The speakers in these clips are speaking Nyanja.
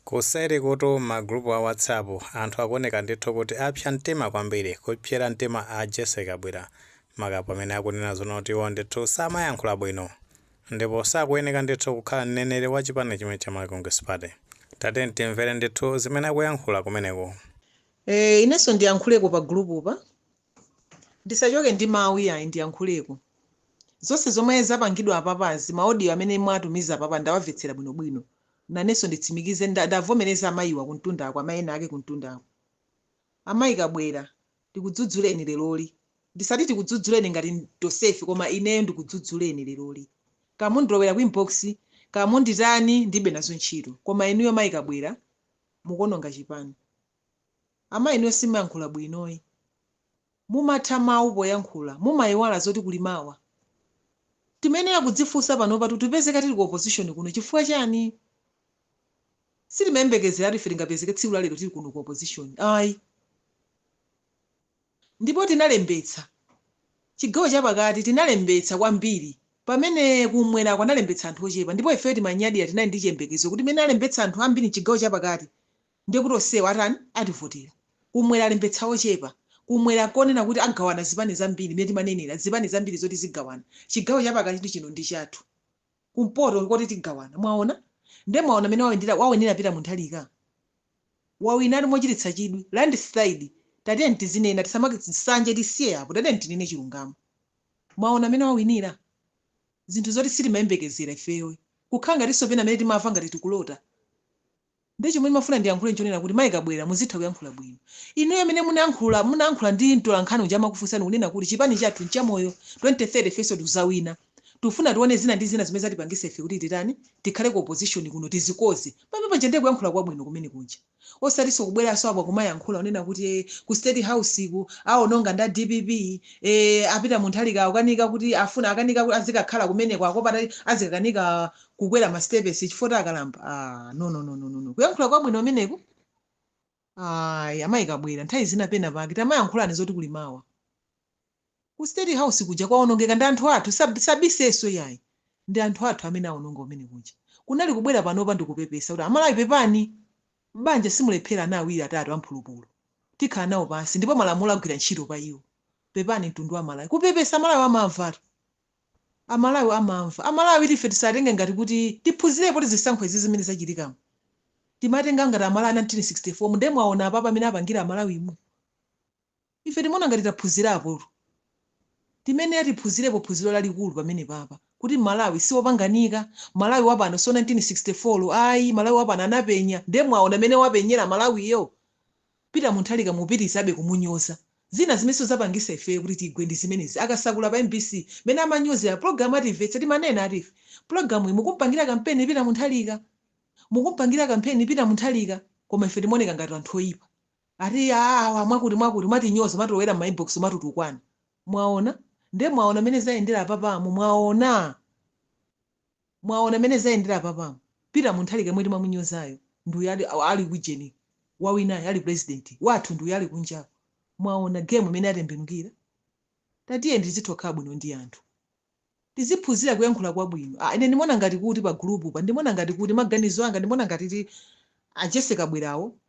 Kuseri kutu m'ma group a whatsapp anthu akuoneka ndithu kuti apsa mtima kwambiri kupsera mtima a Jessie Kabwira maka pamene akunena zoona kuti iwo ndithu samayankhula bwino ndipo sakuyeneka ndithu kukhala mneneri wa chipani chimenechi cha Malawi Congress Party. Tatiyeni timvere ndithu zimene akuyankhula kumeneko. Eee inenso ndiyankhuleko pa group pa. Ndisachoke ndi mawu iyayi ndiyankhuleko. Zonse zomwe zapangidwa apapazi, ma audio amene mwatumiza apapa ndawamvetsera bwinobwino. Nanenso nditsimikize nda ndavomereza amayiwa kumtundako amayi ena ake kumtundako. Amayi Kabwira, tikudzudzuleni leroli. Ndisati tikudzudzuleni ngati tonsefe koma ineyo ndikudzudzuleni leroli. Kaya mundilowera ku inbox, kaya munditani ndilibe nazo ntchito. Koma inuyo mayi Kabwira mukuononga chipani. Amayi inuyo simuyankhula bwinoyi. Mumatha mawu poyankhula, mumayiwala zoti kuli mawa. Timayenera kudzifunsa panopa kuti tipezeke tili ku opposition kuno chifukwa chani? Sitimayembekezeratu ife tingapezeke tsiku la lero tili kuno ku opposition ayi. Ndipo tinalembetsa, chigawo cha pakati tinalembetsa kwambiri pamene kum'mwerako analembetsa anthu ochepa ndipo ifeyo timanyadira tinali ndi chiyembekezo kuti mmene alembetsa anthu ambiri mchigawo cha pakati, ndiye kuti onsewa atani ativotera kumwera alembetsa ochepa kumwera konena kuti agawana zipani zambiri mmene timanenera zipani zambiri zoti zigawana chigawo chapakati ndi chino ndi chathu kumpoto nkoti tigawana mwaona ndiye mwaona mmene wawendera wawinira Peter Mutharika wawinatu mochititsa chidwi landslide tatiyeni tizinena tisamaike nsanje tisiye apo tatiyeni tinene chilungamo mwaona mmene wawinira zinthu zoti sitimayembekezera ifeyo kukhala ngatinso pena amene timamva ngati tikulota Ndiye chomwe ndimafuna ndiyankhule nchonena kuti Mai Kabwira muzitha kuyankhula bwino. Inuyo mene munayankhula munayankhula ndi mtolankhani uja amakufunsani kunena kuti chipani chathu nchamoyo 2030 ifenso tikuzawina. Tikufuna tione zina ndi zina zomwe zatipangitsa ife kuti titani tikhale ku opposition kuno tizikonze. Pamene paja ndiye kuyankhula kwabwino kumene kuja. Osatinso kubweranso apa kumayankhula kunena kuti ee ku state house kuja awononga nda dpp ee a Peter Mutharika akukanika kuti afuna akanika kuti azikakhala kumeneko akuopa kuti azikakanika kukwera masitepesi chifukwa choti akalamba ah, no, no, no, no, no. kuyankhula kwabwino kumeneko ayi amayi kabwira nthawi zina pena pake tamayankhulani zoti kuli mawa ku state house kuja kwaonongeka ndi anthu athu sab- sabiseso yayi ndi anthu athu amene aononga kumene kuja kunali kubwera panopa ndikupepesa kuti amalawi pepani m'banja simulephera ana awiri atatu amphulupulu tikhala nawo pansi ndipo malamulo agwira ntchito pa iwo pepani mtundu wa amalawi kupepesa amalawi amamvatu Amalawi amamva. Amalawi iti ife tisatenge ngati kuti, tiphunzirepo ti zisankho izi zimene zachitikamu. Timatenga ngati Amalawi a 1964 mu nde mwaona apapa mene apangira Amalawimu. Ife timaona ngati taphunzirapo. Timanena tiphunzirepo phunziro lalikulu pamenepapa kuti Malawi si opanganika. Malawi wa pano si wa 1964 ayi. Malawi wa pano anapenya. Nde mwaona mene wapenyera Malawiyo. Peter mutharika mupitizabe kumunyoza zina zimenenso zapangisa ifeyo kuti tigwe ndizimenezi akasakula pa mbc mene amanyozela program ya timvetse timanena ati ife program iyi mukumpangila kampeni peter mutharika mukumpangila kampeni peter mutharika koma ife timaoneka ngati anthu oyipa ati aa awa mwakuti mwakuti mwatinyoza mwatilowela mmainbox mwatitukwana mwaona nde mwaona mene zayendela apapamu mwaona Mwaona mmene zayendera apapamu? Peter Mutharika yemwe timamunyozayo ndi uyu ali, ali kujeni wawinayo ali president wathu ndi uyo ali kunjako. Mwaona game mmene yatembenukira? Tatiyeni tizithokhala bwino ndi anthu. Tiziphunzira kuyankhula kwabwino. Ah, ine ndimaona ngati kuti pa group pa ndimaona ngati kuti maganizo anga ndimaona ngati ti a Jessie Kabwilawo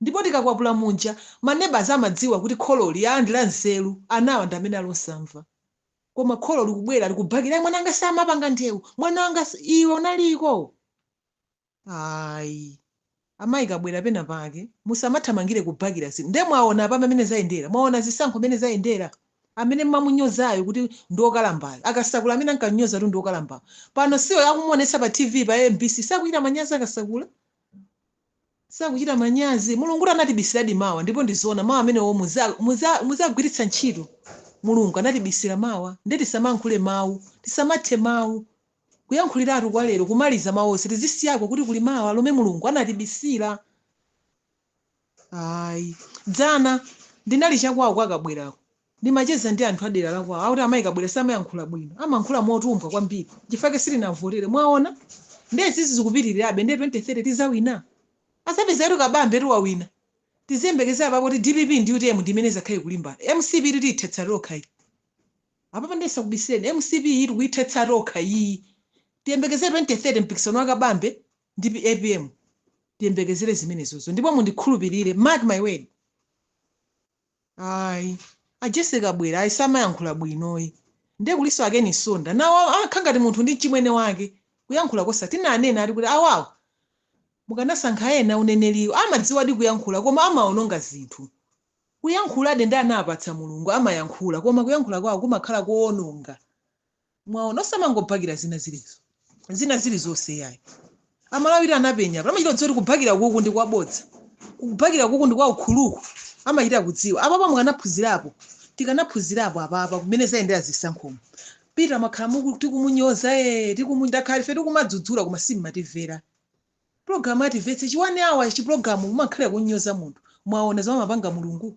Ndipo tikakwapula muja ma neighbours amadziwa kuti khololi aa ndi la nzeru, anawa ndi amene ali osamva. Koma kholo likubwera likubakira, ai mwana wanga samapanga ndewu, mwana wanga sa. Iwe unaliko? Ayi. Amayi Kabwila pena pake, musamathamangire kubakira zinthu. Nde mwaona apa mmene zayendera? Mwaona zisankho mmene zayendera? Amene mumamunyozayo kuti ndi wokalambayo, a Kasakula amene ankam'nyoza kuti ndi wokalambayo, pano si akumuonetsa pa TV pa mbc, sakuchita manyazi a Kasakula? sakuchita manyazi. Mulungutu anatibisiradi mawa ndipo ndi zoona mau amenewo muza muza muzagwiritsa ntchito. Mulungu anatibisira mawa nde tisamankhule mau, tisamathe mau. Kuyankhuliratu kwa lero kumaliza mau onse tizisiyako kuti kuli mawa lomwe Mulungu anatibisira. Ayi. Dzana ndinali chakwawo kwa Kabwilako. Ndimacheza ndi anthu a dera la kwawo akuti amayi Kabwila samayankhula bwino, amankhula motumbwa kwambiri nchifukwa chake sitinamvotere. Mwaona? Ndiye izizi zikupitirirabe ndiye 2030 tizawina? Azapeza kuti Kabambetu wawina. Tiziyembekezera apapo kuti dpp ndi utm ndi imene izakhale ikulimbana. Mcp iyitu tiyithetsa tokha iyi. Apapa ndiye ndisakubisireni, mcp iyi tikuyithetsa tokha iyi. Tiyembekezere 2030 mpikisano wa Kabambe ndi apm. Tiyembekezere zimenezozo ndipo mundikhulupirire, mark my word. ayi a jessie kabwila ayi samayankhula bwinoyi ndiye kulinso a ken msonda nawo akha ngati munthu ndi mchimwene wake kuyankhula kosa tinanena ati kuti awawo mukanasankha ena uneneliwo amadziwadi kuyankhula koma amaononga zinthu kuyankhuladi ndi anawapatsa mulungu amayankhula koma kuyankhula kwawo kumakhala koononga mwaona osamangobhakira zina zilizo zina zilizonse yayi amalawiti anapenya apa amachita kudziwa kuti kubhakira kuku ndi kwabodza kubhakira kuku ndi kwa ukhuluku amachita kudziwa apapa mukanaphunzirapo tikanaphunzirapo apapa mmene zayendera zisankho mopita mwakhala muku tikumanyoza e tikuma- takhala ife tikumadzudzula koma simmatimvera pulogalamu atimvetse chi 1 hour chipulogalamu kumakhalira kunyoza munthu mwaona zomwe amapanga mulungu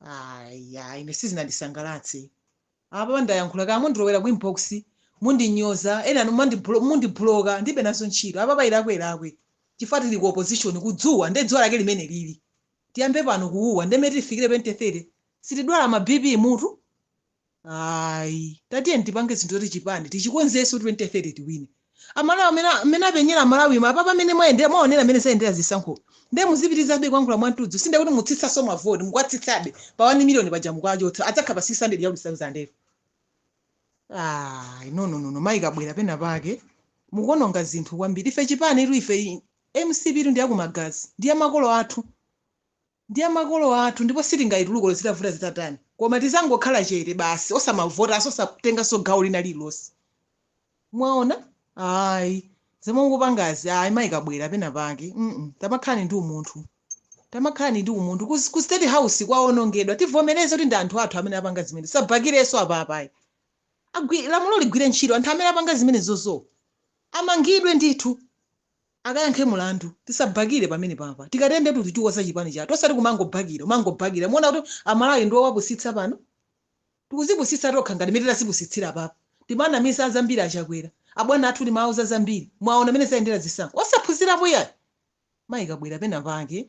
aya ine sizinandisangalatse apa ndayankhula kaya mundilowera ku inbox mundinyoza ena mumandiblo- mundibloka ndibe nazo ntchito apa pa ilakwe ilakwe chifukwa tili ku opposition kudzuwa nde dzuwa lake limene lili tiyambe pano kuwuwa nde mmene tifikire 2030 sitidwala ma bp mutu ayi tatiyeni tipange zinthu zoti chipani tichikonzenso 2030 tiwine amalawi amene amene apenyera amalawi ma apapa mmene mwayendera mwaonera mmene zayendera zisankho nde muzipitirizabe kuyankhula mwantudzu sinde kuti mutsitsanso mavoti mukwatsitsabe pa 1 miliyoni paja mukwachotsa adzakhala pa 600 ya ulisauzandero ayi no no no no mayi kabwera pena pake mukuononga zinthu kwambiri ife chipanitu ife i- mcp tu ndiyakumagazi ndi ya makolo athu ndi ya makolo athu ndipo sitingaituluke olo zitavuta zitatani koma tizangokhala chete basi osamavotanso osatenganso gawo lina lililonse mwaona ayi zomwe mukupangazi ayi mayi kabwera pena pake mm tamakhalani ndi umunthu tamakhalani ndi umunthu ku, ku state house kwaonongedwa tivomereze kuti ndi anthu athu amene apanga zimene tisabakirenso apapa ayi Agwi- lamulo ligwire ntchito anthu amene apanga zimenezozo amangidwe ndithu akayankhe mulandu tisabhakile pamenepa apa tikatere ndetu tichikonza chipani chathu osati kumangobhakila umangobhakila muona kuti amalawi ndi owapusitsa pano tikuzipusitsa tokha ngati mene tazipusitsila apapa timanamiza zambili achakwela abwana athu timawauza zambili mwaona mene zayendela zisankho osaphunzilapo yayi mayi kabwela pena pake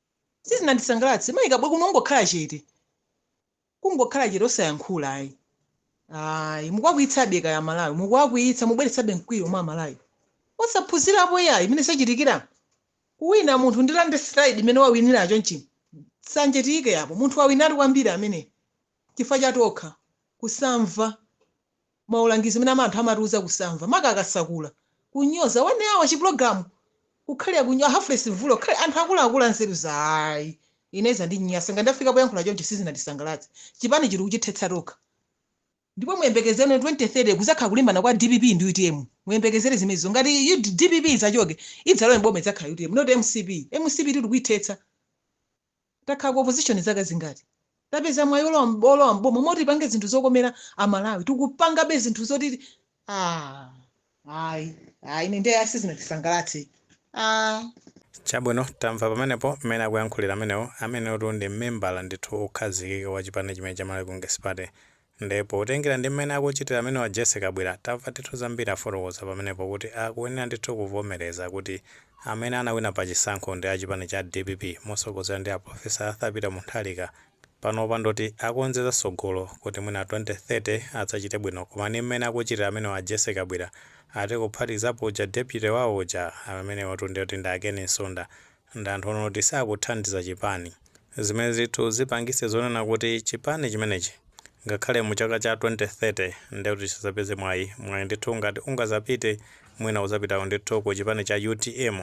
sizinandisangalatse mayi kabwera kunali kungokhala chete kungokhala chete osayankhula ayi ayi mukuwakwiyitsabe kaya amalawi mukuwakwiyitsa mubweretsabe mkwiyo mwa amalawi osaphunzirapo yayi mmene zachitikira kuwina munthu ndi landslide mmene wawinira chonchi sanje tiyike yapo munthu wawinatu kwambiri amene chifukwa cha tokha kusamva maulangizi mene ama anthu amatiuza kusamva maka akatsegula kunyoza 1 hour chi program kukhalira kunyoza half breath mvula kukhalira anthu akuluakulu anzeru zawo ayi ine zandinyasa ngati ndafika poyankhula choncho sizinandisangalatse chipani tili kuchithetsa tokha ndipo muyembekezere 2030 kuzakhala kulimbana kwa dpp ndi utm muyembekezere zimenezo ngati U- dpp izachoke idzalowe mboma idzakhala utm not mcp mcp tiri kuithetsa Takhala ku opposition zaka zingati? Tapeza mwayi olowa olowa m'boma moti tipange zinthu zokomera a Malawi. Tikupangabe zinthu zoti aah ayi ayi ine nde ayi sizinandisangalatse aah. Chabwino tamva pamenepo mmene akuyankhulira amenewo, ameneyotu ndi membala ndithu okhazikika wa chipani chimene cha Malawi Congress Party, Nde potengera ndi mmene akuchitira amenewa Jessie Kabwila tamva ndithu zambiri afotokoza pamenepo kuti akuyenera ndithu kuvomereza kuti amene anawina pa chisankho ndi a chipani cha dpp mosogozedwa ndi a Professor Arthur Peter Mutharika panopa ndoti akonze za sogolo kuti mwina 2030 adzachite bwino koma ndi mmene akuchitira amenewa a Jessie Kabwila ati kuphatikizapo uja deputy wawo uja amenewatu nde kuti ndi a Ken Msonda ndi anthu onena kuti sakuthandiza chipani, zimene zinthu zipangise zonena kuti chipani chimenechi ngakhale mu chaka cha 2030 nde kuti chisazapeze mwayi, mwayi ndithu ngati ungazapite mwina uzapitako ndithu ku chipani cha utm,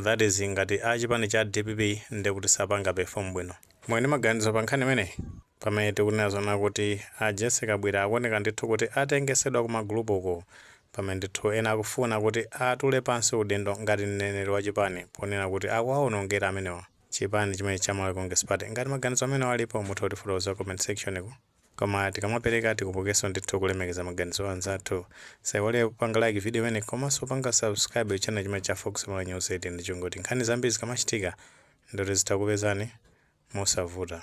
that is ngati a chipani cha dpp nde kuti sapanga perform bwino. Muli ndi maganizo pa nkhani imeneyi? Pamene tikunena zonena kuti a Jessie Kabwila akuoneka ndithu kuti atengesedwa kuma group uku pamene ndithu ena akufuna kuti atule pansi udindo ngati mneneri wa chipani ponena kuti akuwaonongera amenewa chipani chimenechi cha Malawi Congress Party. Ngati maganizo amenewa alipo mutha kutifotokozera ku comment section ku. Koma tikamapereka tikumbukenso ndithu kulemekeza maganizo a anzathu. Tisaiwale kupanga like video imeneyi komanso kupanga subscribe channel chimenechi cha Fox Malawi News 18 ndi cholinga choti nkhani zambiri zikamachitika ndikuti zitha kukupezani mosavuta.